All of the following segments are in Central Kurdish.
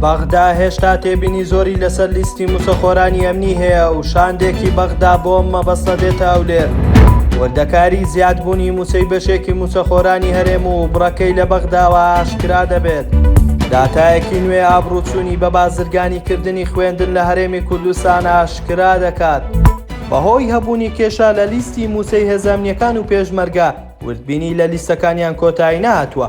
بەغدا هێشتا تێبینی زۆری لەسەر لیستی مووچەخۆرانی ئەمنی هەیە و شاندێکی بەغدا بۆ ئەم مەبەستە دێتە ئەولێر. وردەکاری زیادبوونی مووچەی بەشێکی مووچەخۆرانی هەرێم و بڕەکەی لە بەغداوە ئاشکرا دەبێت. داتایەکی نوێ ئابڕووچوونی بە بازرگانیکردنی خوێندن لە هەرێمی کوردستان ئاشکرا دەکات. بەهۆی هەبوونی کێشە لە لیستی مووچەی هێزە ئەمنییەکان و پێشمەرگە، وردبینی لە لیستەکانیان کۆتایی نەهاتووە.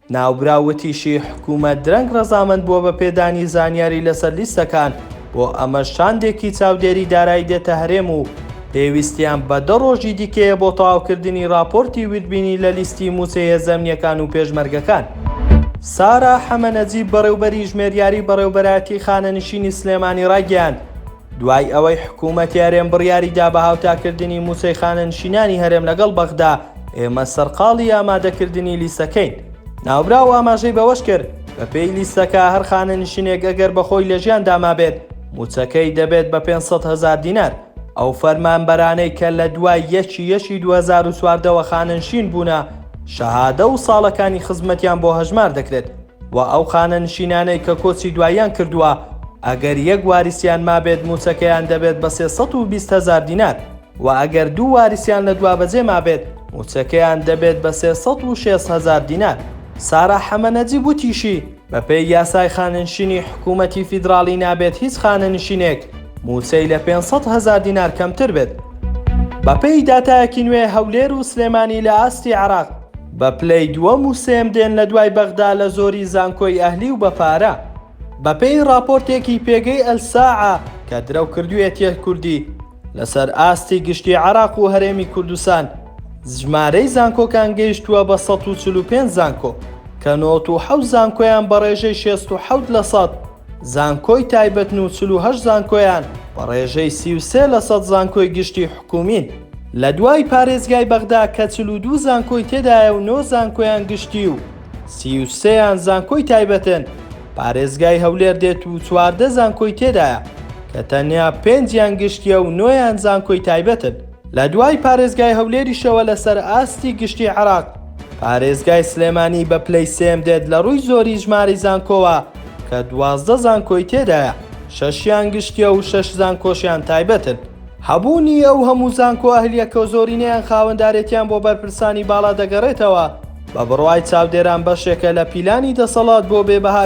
ناوبراو وتیشی، حکومەت درەنگ رەزامەند بووە بە پێدانی زانیاری لەسەر لیستەکان، بۆ ئەمەش شاندێکی چاودێری دارایی دێتە هەرێم و پێویستیان بە دە رۆژی دیکەیە بۆ تەواوکردنی راپۆرتی وردبینی لە لیستی مووچە یەزەمنییەکان و پێشمەرگەکان. سارا حەمە نەجیب بەڕێوبەری ژمێریاری بەڕێوبەرایەتی خانەنشینی سلێمانی رایگەیاند، دوای ئەوەی حکوومەتی هەرێم بڕیاری دا بە هاوتاکردنی مووچەی خانەنشینانی هەرێم لەگەڵ بەغدا، ئێمە سەرقاڵی ئامادەکردنی لیستەکەین. ناوبراو ئاماژەی بەوەش کرد، بەپێی لیستەکە هەر خانەنشینێک ئەگەر بە خۆی لە ژیاندا مابێت، مووچەکەی دەبێت بە پێنج سەد هەزار دینار. ئەو فەرمانبەرانەی کە لە دوای یەکی یەکی دوو هەزار و چواردە وە خانەنشین بوونە، شەهادە و ساڵەکانی خزمەتیان بۆ هەژمار دەکرێت. و ئەو خانەنشینانەی کە کۆچی دواییان کردووە ئەگەر یەک وارسیان مابێت مووچەکەیان دەبێت بە سێ سەد و بیست هەزار دینار و ئەگەر دوو وارسیان لە دوابەجێ مابێت مووچەکەیان دەبێت بە سێ سەد و شێست هەزار دینار. سارا حەمە نەجیب وتیشی، بەپێی یاسای خانەنشینی حکوومەتی فیدراڵی نابێت هیچ خانەنشینێک مووچەی لە پێنج سەد هەزار دینار کەمتر بێت. بەپێی داتایەکی نوێ هەولێر و سلێمانی لە ئاستی عێراق، بە پلەی دووەم و سێم دێن لە دوای بەغدا لە زۆری زانکۆی ئەهلی و بە پارە. بە پێی ڕاپۆرتێکی پێگەی ئەلساعە کە درەو کردویەتیە کوردی لە سەر ئاستی گشتی عێراق و هەرێمی کوردستان ژمارەی زانکۆکان گەیشتووە بە سەد و چل و پێنج زانکۆ کە نۆت و حەوت زانکۆیان بە ڕێژەی شێست و حەوت لە سەد زانکۆی تایبەتن و چل و هەشت زانکۆیان بە ڕێژەی سی و سێ لە سەد زانکۆی گشتی حکوومین. لە دوای پارێزگای بەغدا کە چل و دوو زانکۆی تێدایە و نۆ زانکۆیان گشتی و سی و سێ یان زانکۆی تایبەتن، پارێزگای هەولێر دێت و چواردە زانکۆی تێدایە کە تەنیا پێنج یان گشتییە و نۆ یان زانکۆی تایبەتن. لە دوای پارێزگای هەولێریشەوە لەسەر ئاستی گشتی عێراق پارێزگای سلێمانی بە پلەی سێم دێت لە رووی زۆری ژمارەی زانکۆوە کە دوازدە زانکۆی تێدایە شەشیان گشتیە و شەش زانکۆشیان تایبەتن. هەبوونی ئەو هەموو زانکۆ ئەهلیە کە زۆرینەیان خاوەندارێتیان بۆ بەرپرسانی باڵا دەگەڕێتەوە بە بڕوای چاودێران بەشێکە لە پیلانی دەسەڵات بۆ بێ بەها